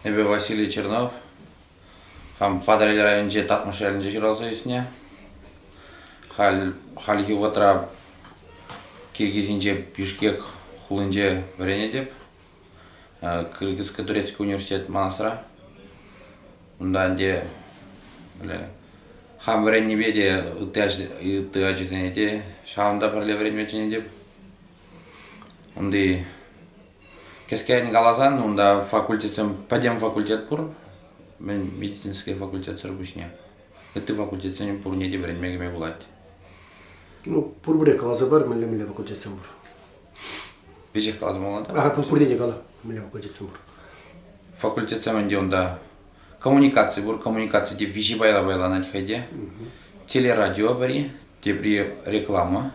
Эпӗ Василий Чернов. Хам Патӑрьел районӗнчи Татмӑш ялӗнче ҫуралса ӳснӗ. Халь хальхи вӑхӑтра Киргизинче Бишкек хулинче вӗренетӗп. Кыргызско-турецкий университет манасра. Унта ӗнтӗ хам вӗреннипе те ытти ачасене те ҫавӑнта пӗрле вӗренме чӗнетӗп. Унти Кӗскен каласан, унта факультетсем пӗтӗм факультет пур, мӗн медицинский факультетсӑр пуҫне. Ытти факультетсен пурне те вӗренме кӗме пулать. Ну, пурпӗрех каласа пар, мӗнле мӗнле факультетсем пур. Веҫех каласамалла да? Ага, пурне те кала, мӗнле факультетсем пур. Факультетсем ӗнтӗ унта коммуникаци пур, коммуникаци те виҫи пайла пайланать хӑй те. Телерадио пӗри, тепри реклама.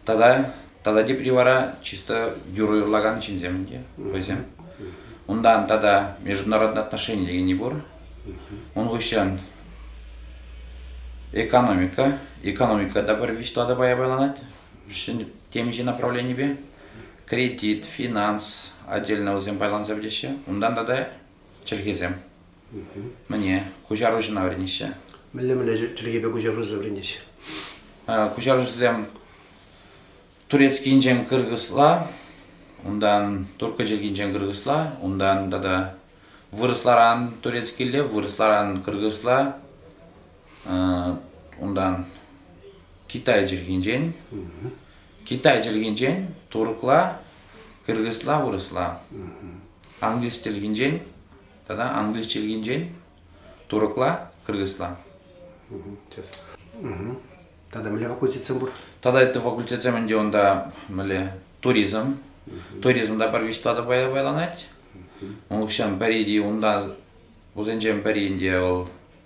Тата тата тепри вара чисто юрӑ юрлакан ҫынсем те вӗсем. Унтан тата международные отношения дегени пур. Ун хыҫҫӑн экономика. Экономика та пӗр виҫ тӑватӑ пая пайланать темиҫе направленипе. Кредит, финанс отдельно вӗсем пайланса пӗтеҫҫӗ. Унтан тата чӗлхесем. Мӗне? Куҫаруҫӑна вӗренеҫҫӗ. Мӗнле-мӗнле чӗлхепе куҫаруҫӑ вӗренӗҫ? Куҫаруҫӑсем турецкинчен кыргызла, унтан турккӑ чӗлхинчен кыргызла, унтан тата вырӑсларан турецкилле, вырӑсларан кыргызла, унтан китай чӗлхинчен, китай чӗлхинчен туркла, кыргызла, вырӑсла. Англис чӗлхинчен тата англиш чӗлхинчен туркла, кыргызла. Тата мӗнле факультетсем пур? Тата ытти факультетсем ӗнтӗ унта мӗнле туризм. Туризмда пӗр виҫ тата пайланать. Унччен пӗри те унта, вӗсенчен пӗри те вӑл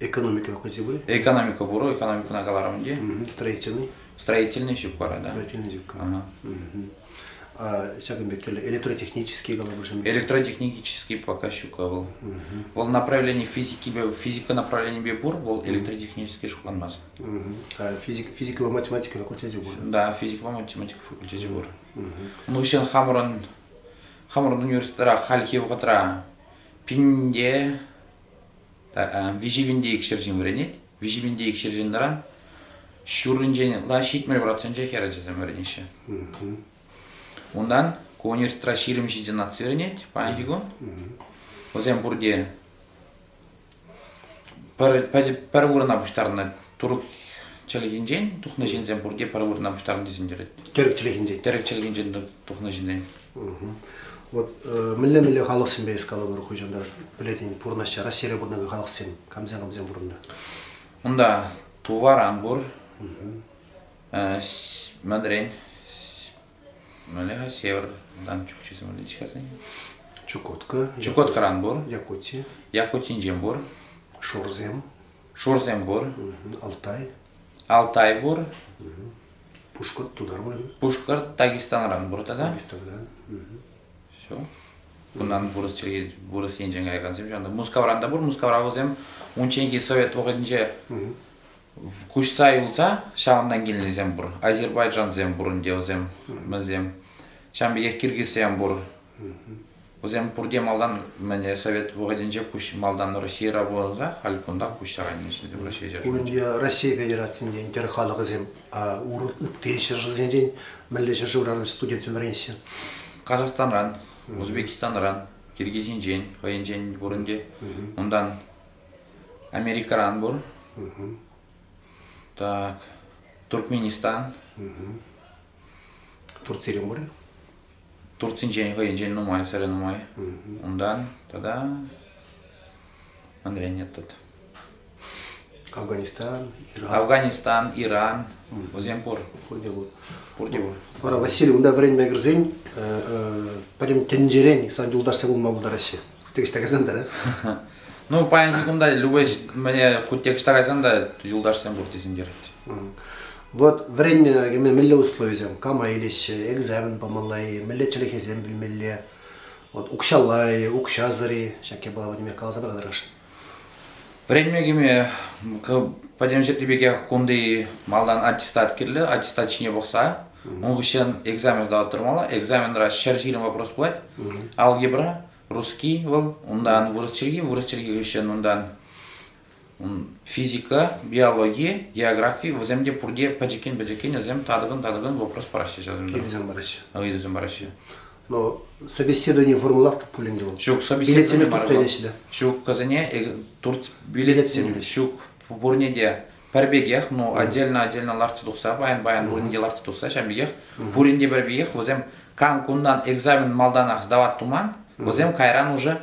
Экономика вӑхӑчӗ пулӗ? Экономика пур, экономикӑна каларӑм ӗнтӗ. Строительный? Строительный ҫук вара, да. Строительный ҫук. Ага. Ҫакӑн пек тӗрлӗ электротехнические калӑпӑшсем. Электротехнический пока ҫук вӑл. Вӑл направлени физикипе, физика направленипе пур, вӑл электротехнический шутланмас. Физика, физикӑпа математика факультечӗ пур. Да, физикӑпа математика факультечӗ пур. Унӑн ҫын хамӑрӑн хамӑрӑн университетра хальхи вӑхӑтра пинде виҫӗ пинте икшер ҫын вӗренет. Виҫӗ пинте икшер ҫынран ҫурринчен лаҫ ҫитмӗл проценчӗ хӗр ачасем вӗренеҫҫӗ. Унтан ку университетра ҫирӗм ҫичӗ наци вӗренет паянхи кун. Вӗсем пурте пӗр, пӗр, пӗр вырӑна пуҫтарнӑ турк чӗлхинчен тухнӑ ҫынсем пурте пӗр вырӑна пуҫтарнӑ тесен терет. Тӗрӗк чӗлхинчен. Тӗрӗк чӗлхинчен тухнӑ ҫынсем. Вот мӗнле-мӗнле халӑхсемпе эс калӑпӑр хуҫанта пӗлетӗн пурӑнаҫҫӗ Раҫҫейре пурӑнакан халӑхсем камсем камсем пурӑннӑ? Унта тувар ан пур. Мӗнрен? Мӗнле-ха севертан чукчи символичкасен? Чукотка. Чукоткаран пур. Якути. Якутинчен пур. Шурсем. Шурсем пур. Алтай. Алтай пур. Пушкӑрт тутар мар? Пушкӑрт Дагестанран пур тата. Дагестанран. Все. Кундан вырӑс чӗлхи, вырӑс енчен каякансем ҫавӑнта. Мускавран та пур. Мускавра вӗсем унчченхи совет вӑхӑтӗнче куҫса юлса ҫавӑнтан килнисем пур. Азербайджансем пур ӗнтӗ вӗсем. Вӗсем. Ҫавӑн пекех киргизсем пур. Вӗсем пурте малтан мӗне совет вӑхӑтӗнче куҫ малтан Российӑра пулса халь кунта куҫсаранне ҫитӗ Раҫҫей ҫӗршывӗнче. Унӑн Россия Федерацийӗнчен тӗр халӑхӗсем ытти ҫӗршывсенчен мӗнле ҫӗршывран студентсем вӗренеҫҫӗ? Казахстанран, Узбекистанран, Киргизинчен хӑйӗнчен пурӑн те. Унтан Америкӑран пур. Так, Туркменистан. Турцире мур Турцинчен хӑйӗнчен нумайсӑрӗ нумай. Унтан тата манрен ятат. Афганистан, Иран. Афганистан, Иран. Вӗсем пур. Пурте пур. Пурте пур. Вара Василий унта вӗренме кӗрсен пӗтӗм тӗнчерен сан юлташсем пулма пултараҫҫӗ. текста кайсан та ну паянхи кунта любой мне хоть текста кайсан да юлдашсем пур тесентерет вот время кеме мелле условисем кама илеҫҫӗ экзамен памалла-и мелле чӗлхесем билмелле вот укҫалла-и укҫасӑр-и ҫак япала вадиме каласа тӑрать Вӗренме кӗме пӗтӗмҫӗрлӗ пекех кунти малтан аттестат кирлӗ, аттестат ҫине пӑхса ун хыҫҫӑн экзамен сдавать тӑрмалла. Экзаменра ҫӗр ҫирӗм вопрос пулать. Алгебра, русский вӑл, унтан вырӑс чӗлхи, вырӑс чӗлхи хыҫҫӑн унтан физика, биологи, географи вӗсем те пурте пӗчӗккӗн-пӗчӗккӗн вӗсем татӑкӑн-татӑкӑн вопрос параҫҫӗ ҫав. Ыйтусем параҫҫӗ. Ыйтусем параҫҫӗ. Но собеседование формулировка пулин те вӑл. Ҫук, собеседование мар. Ҫуккасене э, турт билетсем ҫук пурне те пӗр пекех, ну отдельно-отдельно лартса тухса, баян-баян пуринге лартса тухса, ҫавӑн пекех пуринте пӗр пекех, вӗсем кам кунтан экзамен малтанах сдавать туман, вӗсем кайран уже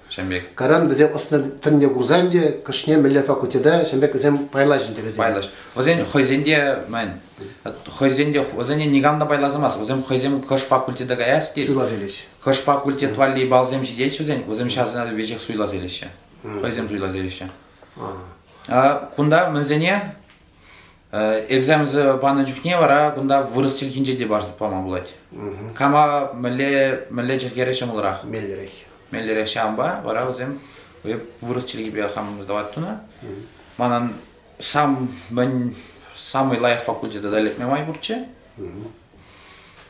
Ҫын пек. Каран вӗсем ӑслӑ тӗнне курсан те кӑшне мӗнле факультета ҫын пек вӗсем пайлаҫҫӗ вӗсем. Пайлаҫ. Вӗсен хӑйсен те, мӗн, хӑйсен те, вӗсене никам та пайласамас. Вӗсем хӑйсем хӑш факультета каяс тет. Суйлас илӗҫ. Хӑш факультет валли балсем ҫитет вӗсен, вӗсем ҫавсена веҫех суйлас илеҫҫӗ. Хӑйсем суйлас илеҫҫӗ. А кунта мӗнсене экзаменсем панӑ чухне вара кунта вырӑс чӗлхинче те парса пама пулать. Кама мӗнле мӗнле чӗлхере ҫӑмӑлрах? Меллӗрех. Меллӗрех ҫавӑнпа вара вӗсем вырӑс чӗлхипе хам сдавать тунӑ. Манан сам мӗн самый лайӑх факультета да лекме май пурччӗ.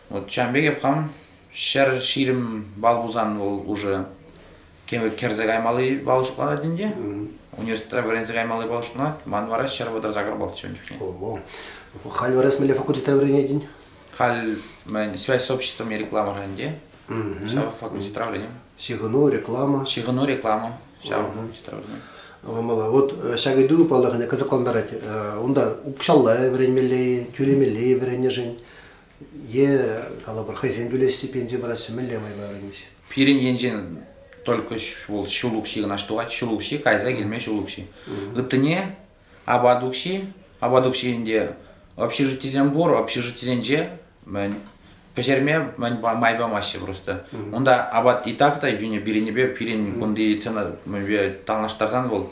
Вот ҫавӑн пекех хам ҫӗр ҫирӗм балл пулсан вӑл уже кӗрсе каймалли балл шутланать ӗнтӗ. Университетра вӗренсе каймалли балл шутланать. Ман вара ҫӗр вӑтӑрса кӑрпалчӗ ун чухне. Халь вара эс мӗнле факультетра вӗренетӗн? Халь мен связь с обществом и рекламӑра ӗнтӗ. Ҫав факультетра вӗренем. Ҫыхӑну, реклама. Ҫыхӑну, реклама. Ҫав факультетра вӗренем. Мала вот ҫак ыйту, паллах, кӑсӑклантарать. Унта укҫалла вӗренмелле-и, тӳлемелле-и вӗреннӗшӗн. Е, калӑпӑр, хӑйсем тӳлеҫҫӗ, пенси параҫҫӗ, мӗнле майпа вӗренмеҫҫӗ? Пирӗн енчен только вӑл ҫул укҫи кӑна тӑвать, ҫул укҫи кайса килме ҫул укҫи. Ыттине апат укҫи, апат укҫинче общежитисем пур, общежитисенче мӗн пӗҫерме мӗн май памаҫҫӗ просто. Унта апат и так та йӳнӗ пирӗнпе пирӗн кунти цена танлаштарсан вӑл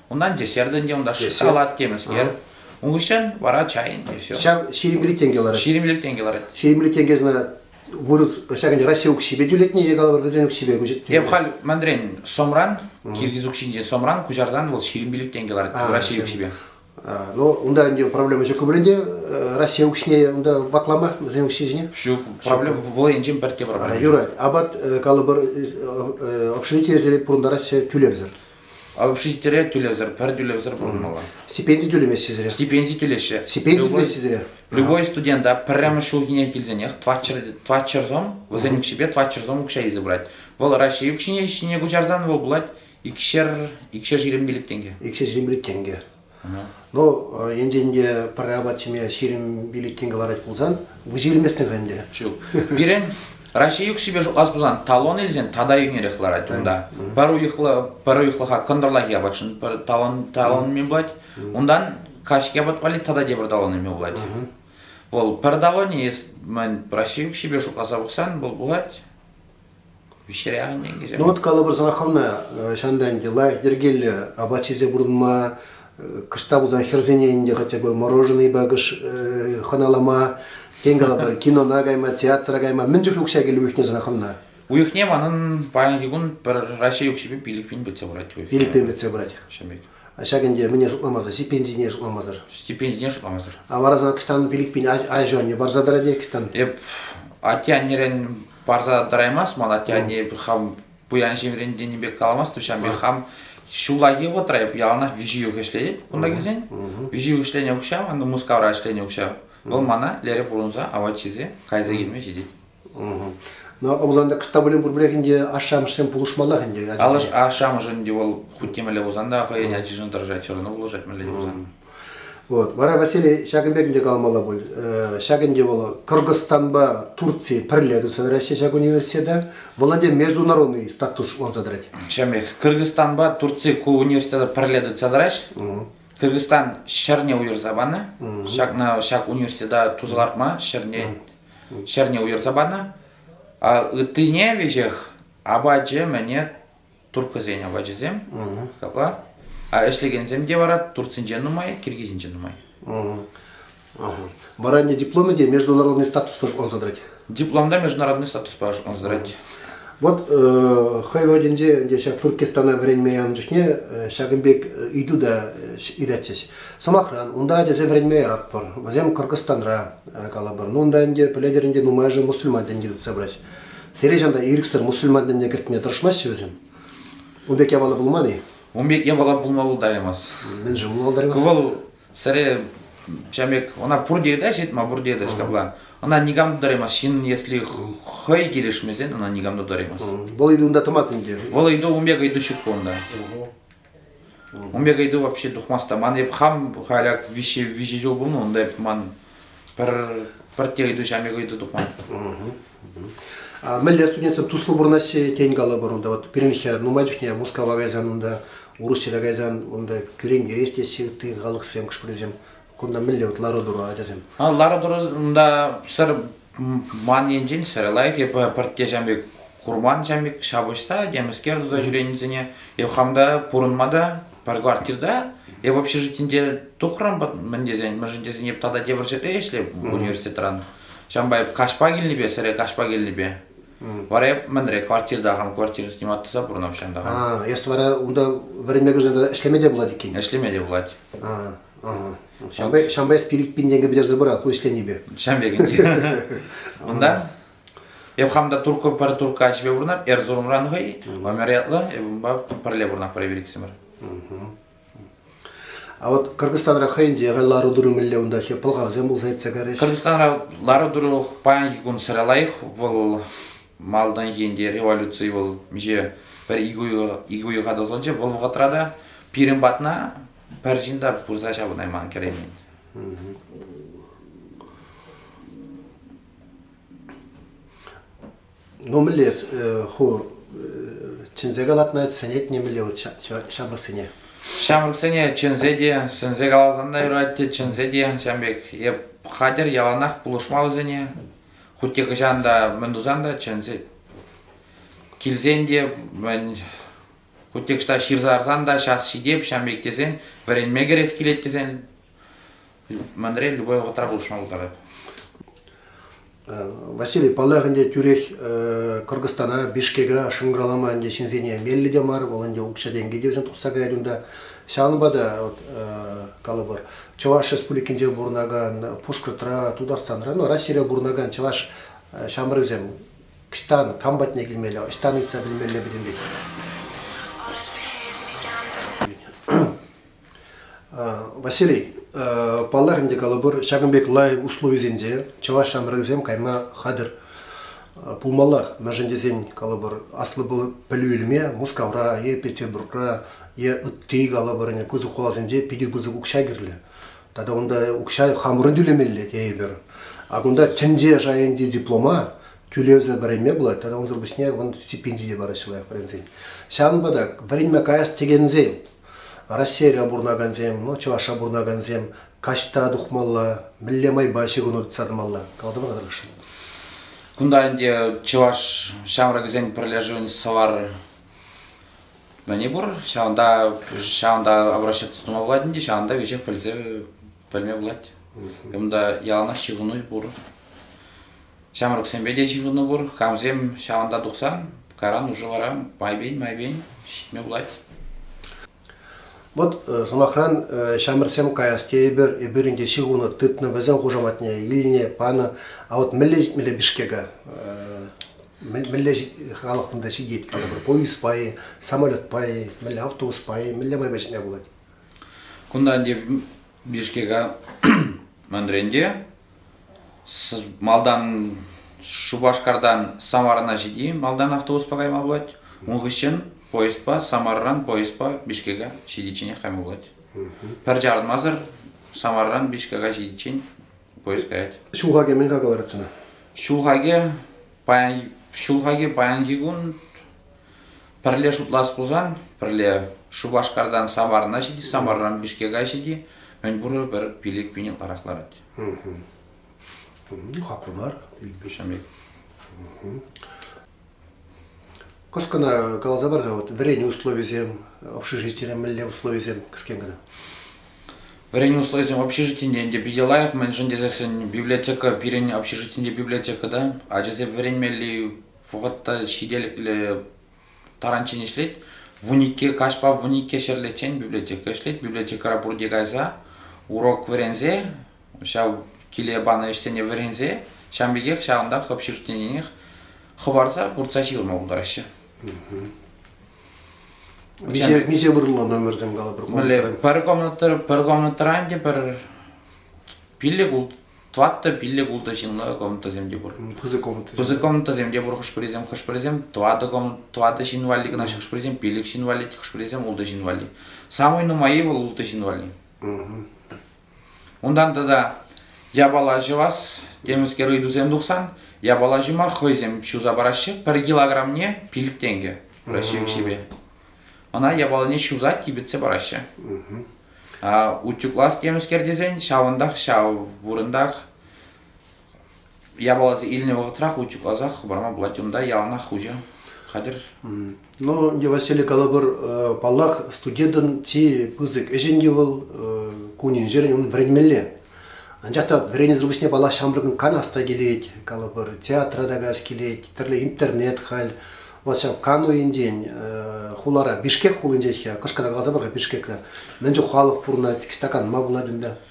Унтан те ҫӗртӗн те унта шоколад темӗскер. Ун хыҫҫӑн вара чайӑн те все. Ҫав ҫирӗмлӗ тенкӗ ларать. Ҫирӗмлӗ тенкӗ ларать. Ҫирӗмлӗ тенкӗ знак вырӑс, ҫакӑн Раҫҫей укҫипе тӳлетнӗ е калӑпӑр вӗсен укҫипе куҫать. Эп халь мандрен сомран, киргиз укҫинчен сомран куҫарсан вӑл ҫирӗмпиллӗк тенкӗ ларать Раҫҫей укҫипе. Ну, унта ӗнтӗ проблема ҫук пуль ӗнтӗ. Раҫҫей укҫине унта ваклама вӗсен укҫи ҫине? Ҫук, проблема вӑл енчен пӗртте проблема. Юрать, апат, калӑпӑр, общежитийӗсене пурӑнтараҫҫӗ тӳлевсӗр. Общежитире тӳлевсӗр, пӗр тӳлевсӗр пурӑнмалла. Стипенди тӳлемеҫҫӗ сире? Стипенди тӳлеҫҫӗ. Стипенди любой, тӳлеҫҫӗ сире? Любой студента пӗрремӗш ҫулхине килсенех тватчерзом, вӗсен укҫипе тватчерзом укҫа илсе пырать. Вӑл Раҫҫей укҫине ҫине куҫарсан вӑл пулать икшер, икшер ҫирӗмпелӗк тенкӗ. Икшер ҫирӗмпелӗк тенкӗ. Ну, енчен те пӗр апат ҫиме ҫирӗм пилӗккин кӑларать пулсан, выҫӑ илместӗн-ха ӗнтӗ. Ҫук. Пирӗн Раҫҫей ӳкҫипе шутлас пулсан, талон илсен тата йӳнерех ларать унта. Пӗр уйӑхлӑ, пӗр уйӑхлӑха кӑнтӑрлахи апатшӑн пӗр талон талон ӳме пулать. Унтан каҫхи апат валли тата тепӗр талон ӳме пулать. Вӑл пӗр талонӗ, если мӗн Раҫҫей ӳкҫипе шутласа пӑхсан, вӑл пулать Ну вот калӑпӑрсӑр хӑвна ҫанта ӗнтӗ лайӑх йӗркеллӗ апат ҫисе пурӑнма, кӑшта пулсан хӗрсене ӗнтӗ хотя бы мороженӑй пакӑш хӑналама, тен калӑпӑр кинона кайма, театра кайма мӗн чухлӗ укҫа килӗ уйӑхне сана хӑвна? Уйӑхне манӑн паянхи кун пӗр Раҫҫей укҫипе пилӗкпин пӗтсе пырать уйӑхне. Пилӗкпин пӗтсе пырать. Ҫамек. Ҫак ӗнтӗ мӗне шутламасӑр, стипендине шутламасӑр. Стипендине шутламасӑр. А вара сана кӑштан пилӗкпин аҫу-анне парса тӑрать-и кӑштан? Эп атте-аннерен парса тӑраймасть ман атте анне хам пуян ҫемрен тенӗ пек каламасть то ҫам пек хам ҫуллахи вӑхӑтра эп яланах виҫӗ ҫул ӗҫлетӗп кунта килсен виҫӗ ҫул ӗҫленӗ укҫа анда Мускавра ӗҫленӗ укҫа вӑл мана лере пурӑнса апат ҫисе кайса килме ҫитет но Ӑмсанта кӑста пулин пурпӗрех ӗнтӗ ашшӗ-амӑшсем пулӑшмаллах ӗнтӗ ачасене. Алыш ашшӗ-амӑшӗн те вӑл хуть темелле пулсан та хӑйӗн ачишӗн тӑрӑшать все равно пулӑшать мӗнле те пулсан. Вот. Вара Василий ҫакӑн пек ӗнтӗ калмалла пуль. Ҫак ӗнтӗ вӑл Кыргызстанпа Турци пӗрле тухса тӑраҫҫӗ ҫак университета. Вӑл ӗнтӗ международный статус ӑнса тӑрать. Шемех, Кыргызстанпа Турци ку университета пӗрле тухса тӑраҫҫӗ. Кыргызстан ҫӗрне уйӑрса панӑ. Ҫакна ҫак университета туса лартма ҫӗрне ҫӗрне уйӑрса панӑ. А ыттине веҫех апачӗ-мӗне турккӑсен апачӗсем капла. А ӗҫлекенсем те вара Турцинче нумай, Киргизинче нумай. Вара ӗнтӗ дипломӗ те международный статуспа шутланса тӑрать. Диплом та международный статуспа шутланса тӑрать. Вот хӑй вӑхӑтӗнче ӗнтӗ ҫак Туркестана вӗренме янӑ чухне ҫакӑн пек ыйту та ыйтатчӗҫ. Сӑмахран, унта ачасем вӗренме яратпӑр, вӗсем Кӑркӑстанра калӑпӑр. Ну, унта ӗнтӗ, пӗлетӗр ӗнтӗ, нумайӑшӗ мусульман тӗнчи тытса пырать. Сире ҫавна ирӗксӗр мусульман тӗнне кӗртме тӑрӑшмаҫҫӗ вӗсем. Ун пек яваллӑ пулман-и? Ун пек явалла пулма пултараймасть. Мӗншӗн пулмалла? Вӑл сире чамек, ӑна пурте ытаҫҫӗ, ма пурте ытаҫ капла. Ӑна никам тутараймасть. Ҫын, если хӑй килӗшмесен, ӑна никам тутараймасть. Вӑл ыйту унта тӑмасть ӗнтӗ. Вӑл ыйту, ун пек ыйту ҫук пулнӑ. Ун пек ыйту вообще тухмасть та. Ман эп хам халяк виҫе виҫе ҫул пулнӑ унта эп ман пӗр пӗр те ыйту ҫамек ыйту тухман. Мӗнле студентсем туслӑ пурӑнаҫҫӗ тен калӑпӑр унта вот пирӗнхи нумай чухне Мускава кайсан унта урӑхҫӑра кайсан унта кӳрентерес теҫҫӗ ытти халӑхсем хӑш-пӗрисем Кунта мӗнле вот лару-тӑру ачасем? Лару-тӑрунта сӗр ман енчен сӗр лайӑх. Эп пӗртте ҫам пек курман ҫам пек ҫапӑҫса темӗскер туса ҫӳренисене. Эп хам та пурӑнма та пӗр квартирта эп общежитинте тухрӑм мӗн тесен мӗншӗн тесен эп тата тепӗр ҫӗрре ӗҫлеп университетран. Ҫампа эп каҫпа килнипе сӗре каҫпа килнипе. Вара эп мӗнре квартирта хам квартира снимать туса пурӑнам ҫантаха. А, эс вара унта вӗренме кӗрсен ӗҫлеме те пулать иккен. Ӗҫлеме те пулать. А. Ҫавӑнпа эс пилӗк пин тенкӗ пӗтерсе пыра ку ӗҫленипе. Ҫам пекенде. Унтан эп хам та турккӑ пӗр туркка ӗҫпе пурӑнап Эрзурумран хӑй номер ятлӑ эп унпа пӗрле пурӑнап пӗр пириксӗмӗр. А вот Кыргызстанра хӑйӗнче лару-тӑру мӗнле унтахи пӑлхавсем пулса иртсе кайрӗҫ? Кыргызстанра лару-тӑру паянхи кун сыра лайӑх. Вӑл малтанхи ӗнтӗ революци вӑл миҫе пӗр икӗ уйӑха тӑсӑлчӗ. Вӑл вӑхӑтра та пирӗн патна пӗр ҫын та пырса ҫавӑнайман кӗреймен. Ну, мӗнле ху чӗнсе калатна сӗнет нимӗнле вот ҫамрӑксене? Ҫамрӑксене чӗнсе те, сӗнсе каласан та юрать те, чӗнсе те, ҫавӑн пек эп хатӗр яланах пулӑшма вӗсене. Хуть те хӑҫан та, мӗн тусан та чӗнсе килсен те, Кутекста ҫырса ларсан та час ҫитеп, ҫam пек тесен, вӗренме кӗрес килет тесен, мӗнре любой вӑхӑтра пулӑшма пултарать. Василий Паллах ӗнтӗ тӳрех Кыргызстана, Бишкека шӑнкӑравлама ӗнтӗ ҫынсене меллӗ те мар, вӑл ӗнтӗ укҫа-тенкӗ те вӗсем тухса каять унта. Ҫавӑнпа та, вот, калӑпӑр, Чӑваш Республикинче пурӑнакан Пушкӑртра, Тутарстанра, ну, Россире пурӑнакан чӑваш ҫамрӑкӗсем Ӑҫтан, кам патне килмелле, ӑҫтан ыйтса пӗлмелле пӗтӗмпех. Василий, паллах ӗнтӗ калӑпӑр, ҫакӑн пек лайӑх условисенче чӑваш ҫамрӑкӗсем кайма хатӗр пулмаллах. Мӗншӗн тесен, калӑпӑр, аслӑ пӗлӳ илме Мускавра е Петербургра е ытти, калӑпӑр, пысӑк хуласенче питӗ пысӑк укҫа кирлӗ. Тата унта укҫа хамӑрӑн тӳлемелле тейӗпӗр. А кунта тӗнче шайӗнчи диплома тӳлевсӗр вӗренме пулать, тата унсӑр пуҫне вӑн стипендии те параҫҫӗ лайӑх вӗренсен. Ҫавӑнпа та вӗренме каяс текенсем, Раҫҫейре пурӑнакансем, ну, Чӑвашра пурӑнакансем каҫта тухмалла, мӗнле майпа ҫыхӑну тытса тӑмалла? Каласа пама тӑрӑшӑн. Кунта ӗнтӗ чӑваш ҫамрӑкӗсен пӗрлешӗвӗн Сӑвар мӗне пур ҫавӑнта ҫавӑнта обращаться тума пулать ӗнтӗ ҫавӑнта веҫех пӗлсе пӗлме пулать унта яланах ҫыхӑну пур ҫамрӑксемпе те ҫыхӑну пур камсем ҫавӑнта тухсан кайран уже вара майпен майпен ҫитме пулать Вӑт, э, сӑмахран, э, ҫамрӑксем каяс тейӗпӗр, эпир ӗнтӗ ҫыхӑну тытнӑ, вӗсен хушаматне илнӗ, панӑ. А вот мӗнле ҫитмелле Бишкека? Э, мӗнле халӑх кунта ҫитет? Поезд пай, самолет пай, мӗнле автобус пай, мӗнле майпа ҫитме пулать? Кунта ӗнтӗ Бишкека мандренте малтан Шупашкартан Самарана ҫити малтан автобуспа кайма пулать. Ун хыҫҫӑн поездпа Самарран поездпа Бишкека ҫитичченех кайма пулать. Пӗр чарӑнмасӑр Самарран Бишкека ҫитиччен поискать. Ҫулхаке мӗн-ха кӑларать сана? Ҫулхаке паян ҫулхаке паянхи кун пӗрле шутлас пулсан пӗрле Шупашкартан Самарна ҫити Самарран Бишкека ҫити мӗнпур пӗр пилӗк пине ларах ларать. Ну, хаклӑ мар. Ҫамрӑк. Кӑшкӑна каласа пар-ха, вот вӗренӳ условисем, общежитире мӗнле условисем кӗскен кӑна. Вӗренӳ условисем общежитине те питӗ лайӑх, мӗншӗн тесессӗн библиотека пирӗн общежитинче библиотека та, ачасем вӗренмелли вӑхӑт та ҫителӗклӗ таранччен ӗҫлет. Вуникке, каҫпа вуникке ҫӗрлеччен библиотека ӗҫлет. Библиотекӑра пурте кайса урок вӗренсе ҫав киле панӑ ӗҫсене вӗренсе ҫавӑн пекех ҫавӑнта хӑп ҫыртнинех хӑпарса пырса ҫырма пултараҫҫӗ. Миҫе, миҫе вырӑнлӑ номерсем калӑпӑр? Мӗнле, пӗр комнатӑр, пӗр комнатӑран те пӗр пиллӗк улт, тӑваттӑ пиллӗк ултӑ ҫынлӑ комнатӑсем те пур. Пысӑк комнатӑсем. Пысӑк комнатӑсем те пур хӑш-пӗрисем, хӑш-пӗрисем тӑватӑ комнат, тӑватӑ ҫын валли кӑна, хӑш-пӗрисем пиллӗк ҫын валли, хӑш-пӗрисем ултӑ ҫын валли. Самый нумайи вӑл ултӑ ҫын валли. Унтан тата япала ҫӑвас темӗскер ыйтусем тухсан япала ҫума хӑйсем ҫуса параҫҫӗ. Пӗр килограммне пилӗк тенкӗ Раҫҫей укҫипе. Ӑна япалине ҫуса типӗтсе параҫҫӗ. утюглас темӗскер тесен ҫавӑнтах ҫав вырӑнтах япаласем илнӗ вӑхӑтра хучӑкласа хӑварма пулать. Унта яланах хуҫа хатӗр. Ну, Василий калӑпӑр, паллах, студентӑн чи пысӑк ӗҫӗн те вӑл кунӗн-ҫӗрӗн ун вӗренмелле. Анчах та вӗренесӗр пуҫне, паллах, ҫамрӑкӑн канас та килет, калӑпӑр, театра та каяс килет, тӗрлӗ интернет халь. Вӑл ҫав кану енчен хулара, Бишкек хулинчех я, кӑшкӑртан каласа пар-ха Бишкекра. Мӗн чух халӑх пурӑнать, стаканма пулать унта.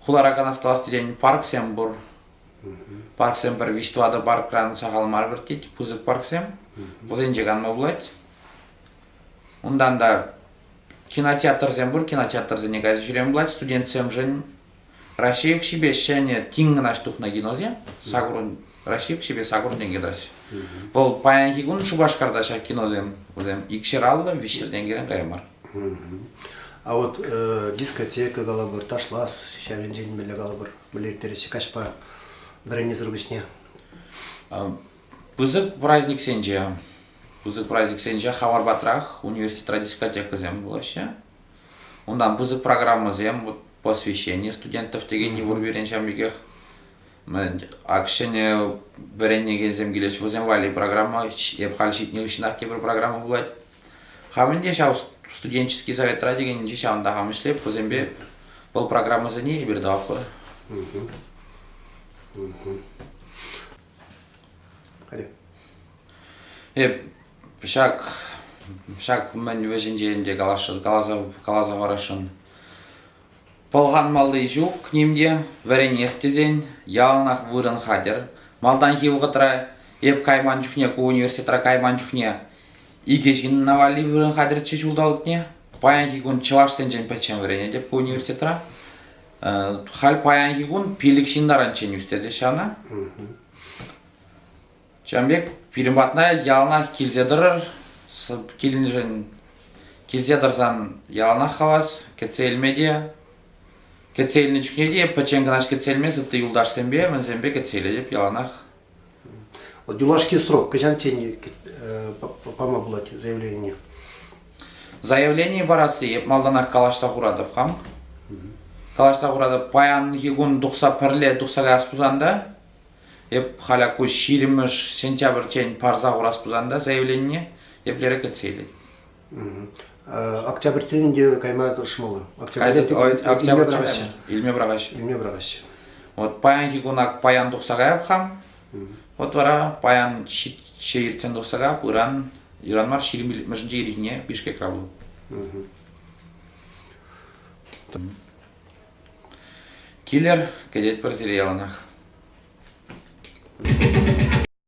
Хуларакан астӑвас терен парксем пур. Парксем пӗр виҫ тӑватӑ паркран сахал мар выртет, пысӑк парксем. Вӗсенче канма пулать. Унтан та кинотеатрсем пур, кинотеатрсене кайса ҫӳреме пулать студентсемшӗн. Раҫҫей укҫипе ҫӗнӗ тин кӑна тухнӑ киносем. Сакурӑн Раҫҫей укҫипе саккурсенчен килаҫҫӗ. Вӑл паянхи кун Шупашкарта ҫак киносем вӗсем икҫӗр аллӑ виҫҫӗр тенкӗрен кая мар. А вот э, дискотека калӑпӑр, ташлас, ҫав енчен мӗнле калӑпӑр, мӗнле ирттереҫҫӗ каҫпа вӗренесӗр пуҫне? Пысӑк праздниксенче, пысӑк праздниксенче хавар патрах университетра дискотекӑсем пулаҫҫӗ. Унтан пысӑк программӑсем, вот посвящение студентов текен йывӑр пирӗн ҫав пекех. Ак ҫӗнӗ вӗренекенсем килеҫҫӗ, вӗсем валли программа, эп халь ҫитнӗ хыҫҫӑнах тепӗр программа пулать. Хам ӗнтӗ ҫав студенческий советра текенӗнче ҫавӑнта хам ӗҫлеп, вӗсемпе вӑл программӑсене эпир тӑватпӑр. Эп ҫак ҫак мӗн вӗҫӗнче ӗнтӗ каласа каласа каласа парасшӑн. Пӑлханмалли ҫук ним те, вӗренес тесен яланах вырӑн хатӗр. Малтанхи вӑхӑтра эп кайман чухне, ку университетра кайман чухне икӗ ҫынна валли вырӑн хатӗрччӗ ҫулталӑкне. Паянхи кун чӑвашсенчен пӗччен вӗренетӗп ку университетра. Халь паянхи кун пилӗк ҫын таранччен ӳстереҫҫӗ ӑна. Ҫавӑн пек пирӗн патна яланах килсе тӑрӑр. Килнӗшӗн килсе тӑрсан яланах хавас, кӗтсе илме те. Кӗтсе илнӗ чухне те пӗччен кӑна кӗтсе илмес, ытти юлташсемпе, мӗнсемпе кӗтсе илетӗп яланах. Юлашки срок кӑҫанччен пама пулать заявление? Заявление парасси эп малтанах калаҫса хуратӑп хам. Калаҫса хуратӑп, паянхи кун тухса пӗрле тухса каяс пулсан та Эп халя ку ҫирӗммӗш сентябрьччен парса хурас пулсан та заявление еплерех кӗтсе илет? Октябрьтен ӗнтӗ кайма тӑрӑшмалла. Октябрь илме пӑрахаҫҫӗ. Илме пӑрахаҫҫӗ. Вот паянхи куна паян тухса каяп хам. Вот вара паян ҫи иртсен тухса каяп, ыран ыран мар ҫирӗм иллӗмӗшӗнче ирхине Бишкекра пулӑп. Килӗр, кӗтетпӗр сире яланах.